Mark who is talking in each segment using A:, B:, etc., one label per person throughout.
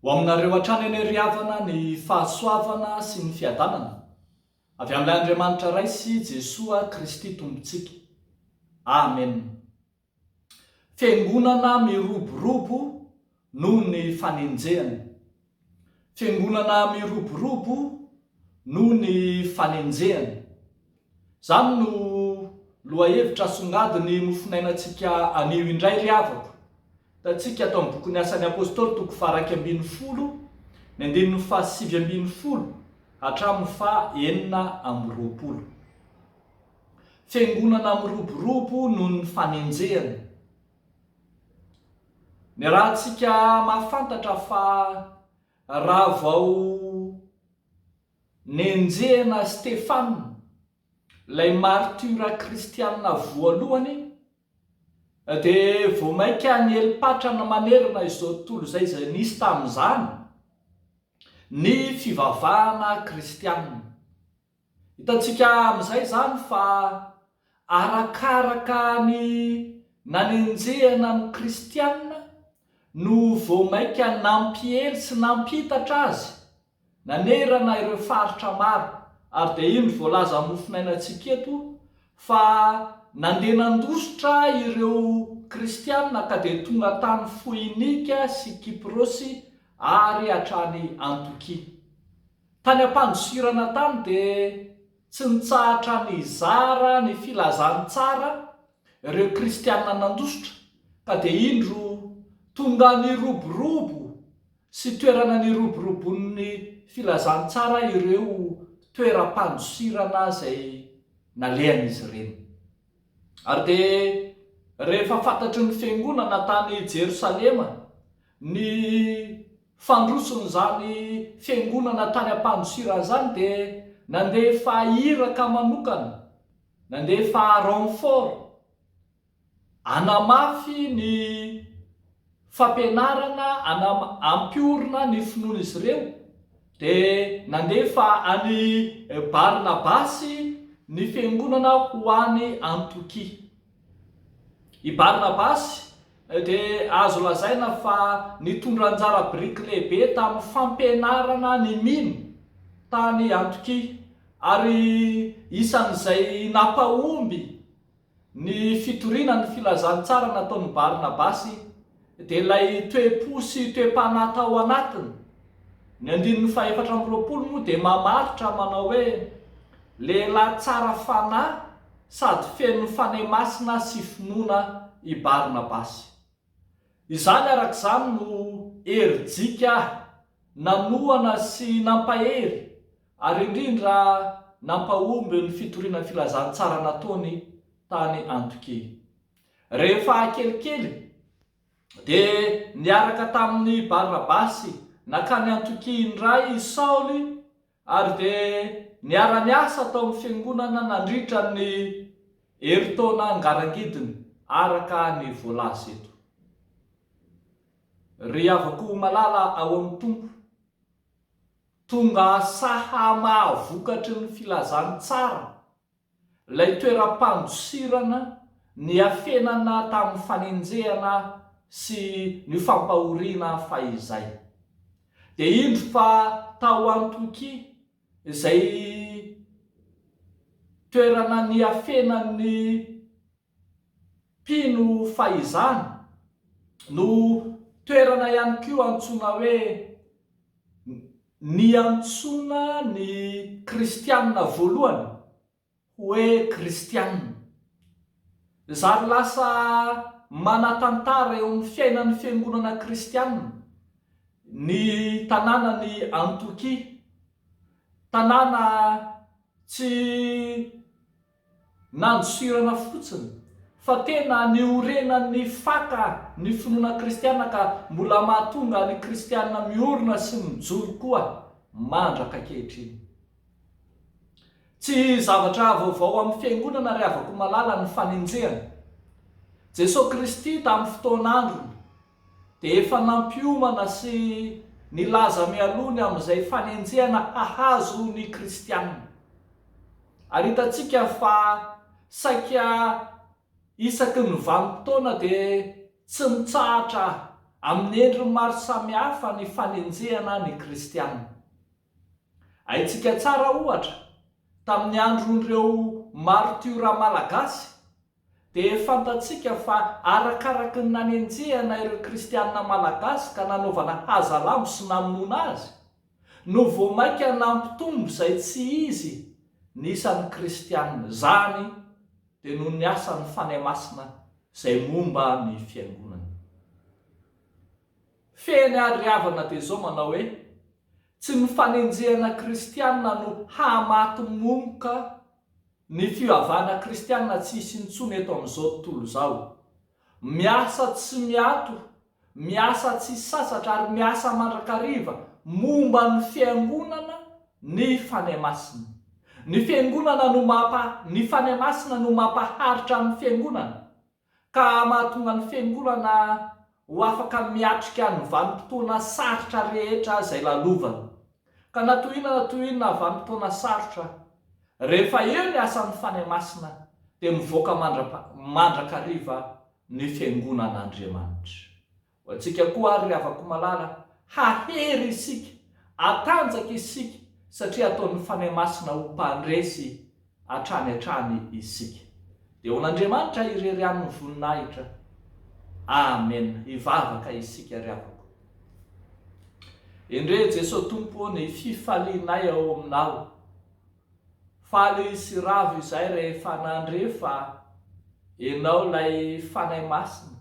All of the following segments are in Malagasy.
A: Ho aminareo hatrany anie ry havana ny fahasoavana sy ny fiadanana avy amin'ilay Andriamanitra Ray sy Jesoa Kristy Tompontsika. Amen. Fiangonana miroborobo noho ny fanenjehana Fiangonana miroborobo noho ny fanenjehana. Izany no lohahevitra asongadin'ny mofonainantsika anio indray ry havako. Hitantsika tao amin'ny bokin'ny Asan'ny Apôstôly toko faha-iraika ambin'ny folo, ny andininy faha-sivy ambin'ny folo hatramin'ny faha-enina amby roapolo. Fiangonana miroborobo noho ny fanenjehana. Niarahantsika mahafantatra fa raha vao nenjehina Stefana, ilay martiora kristiana voalohany, dia vao mainka niely patrana manerana izao tontolo izay izay nisy tamin'izany ny fivavahana kristiana. Hitantsika amin'izay izany fa arakaraka ny nanenjehana ny Kristiana no vao mainka nampiely sy nampitatra azy nanerana ireo faritra maro, ary dia indro voalaza amin'ny mofonainantsika eto fa nandeha nandositra ireo Kristiana ka dia tonga tany Foinika sy Kyprosy ary hatrany Antiokia. Tany am-pandosirana tany dia tsy nitsahatra nizara ny filazantsara ireo kristiana nandositra ka dia indro tonga niroborobo sy toerana niroborobon'ny filazantsara ireo toeram-pandosirana izay nalehan'izy ireny. Ary dia rehefa fantatry ny fiangonana tany Jerosalema Ny fandrotson'izany fiangonana tany Ampandosira izany dia nandefa iraka manokana, nandefa renfort, hanamafy ny fampianarana, hampiorina ny finoan'izy ireo, dia nandefa an'i Barnabasy ny fiangonana ho any Antiokia. I Barnabasy dia azo lazaina fa nitondra anjara biriky lehibe tamin'ny fampianarana ny mino tany Antiokia, ary isan'izay nampahomby ny fitoriana ny filazantsara nataon'i Barnabasy. Dia ilay toe-po sy toe-panahy tao anatiny. Ny andininy fahefatra amby roapolo moa dia mamaritra manao hoe, Lehilahy tsara fanahy sady feno fanahy masina sy finoana i Barnabasy. Izany araka izany no herijika ahy nanohana sy nampahery ary indrindra nampahomby ny fitoriana ny filazantsara nataony tany Antiokia. Rehefa kelikely, dia niaraka tamin' i Barnabasy nankany Antiokia indray i Saoly, ary dia niara-niasa tao amin'ny Fiangonana nandritra ny herintaona ngarangidiny, araka ny voalaza eto. Ry havako malala ao amin'ny Tompo, tonga saha mahavokatry ny filazantsara, Ilay toeram-pandosirana niafenana tamin'ny fanenjehana sy ny fampahoriana fahizay, dia indro fa tao Antiokia, izay toerana niafenan'ny. Mpino fahizany no toerana ihany koa antsoina hoe niantsoana ny Kristianina voalohany hoe Kristianina. Zary lasa manan-tantara eo amin'ny fiainan'ny fiangonana kristianina ny tanànan'i Antiokia, tanàna tsy. Nandosirana fotsiny fa tena niorenan'ny faka ny finoana kristiana ka mbola mahatonga ny kristiana miorina sy mijoro koa mandraka ankehitriny. Tsy zavatra vaovao amin'ny fiangonana ry havako malala ny fanenjehana Jesoa Kristy tamin'ny fotoan'androny. dia efa nampiomana sy nilaza mialoha ny amin'izay fanenjehana hahazo ny kristiana. Ary hitantsika fa saika isaky ny vanim-potoana dia tsy mitsahatra amin'ny endriny maro samihafa ny fanenjehana ny kristiana. Haintsika tsara, ohatra, tamin'ny andron'ireo maritiora malagasy, Dia fantatsika fa arakaraky ny nanenjehana ireo kristianina malagasy ka nanaovana hazalambo sy namonoana azy, no vao mainka nampitombo izay tsy izy ny isan'ny kristianina. Izany dia noho ny asan'ny Fanahy Masina izay momba ny Fiangonana. Fehiny ary ry havana dia izao manao hoe, Tsy ny fanenjehana kristianina no hahamaty momoka, Ny fivavahana kristiana tsy hisy intsony eto amin'izao tontolo izao. Miasa tsy miato, miasa tsy sasatra ary miasa mandrakariva momba ny Fiangonana ny Fanahy Masina. Ny Fiangonana no mampa, ny Fanahy Masina no mampaharitra ny Fiangonana. ka mahatonga ny Fiangonana ho afaka miatrika ny vanim-potoana sarotra rehetra izay lalovany. Ka na toy inona na toy inona vanim-potoana sarotra, rehefa eo ny asan'ny Fanahy Masina, dia mivoaka mandra-mandrakariva ny Fiangonan'Andriamanitra. Ho antsika koa àry, ry havako malala, hahery isika, hatanjaka isika, satria ataon'ny Fanahy Masina ho mpandresy hatrany hatrany isika. Dia ho an'Andriamanitra irery ihany ny voninahitra. Amen. Hivavaka isika, ry havako. Endrey, Jesoa Tompo ô, ny fifalianay ao Aminao. Faly sy ravo izay rehefa nandre fa Enao ilay Fanahy Masina,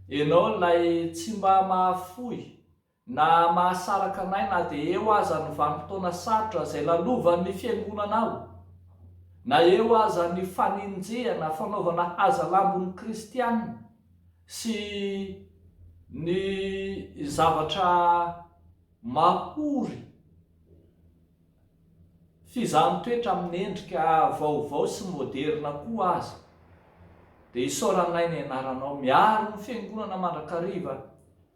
A: Enao ilay tsy mba mahafoy na mahasaraka anay na dia eo aza ny vanim-potoana sarotra izay lalovan'ny Fiangonanao, na eo aza ny fanenjehana, fanaovana hazalambon'ny kristiana sy ny zavatra mahory. Fizahan-toetra amin'ny endrika vaovao sy moderina koa aza. Dia isaoranay ny anaranao. Miaro ny Fiangonana mandrakariva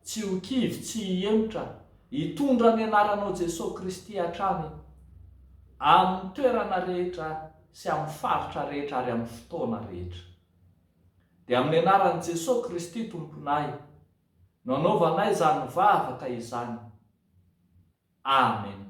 A: tsy ho kivy, tsy hihemotra. Hitondra ny anaranao Jesosy Kristy hatrany amin'ny toerana rehetra sy amin'ny faritra rehetra ary amin'ny fotoana rehetra. Dia amin'ny anaran'i Jesosy Kristy Tomponay. Nanaovanay izany vavaka izany. Amen.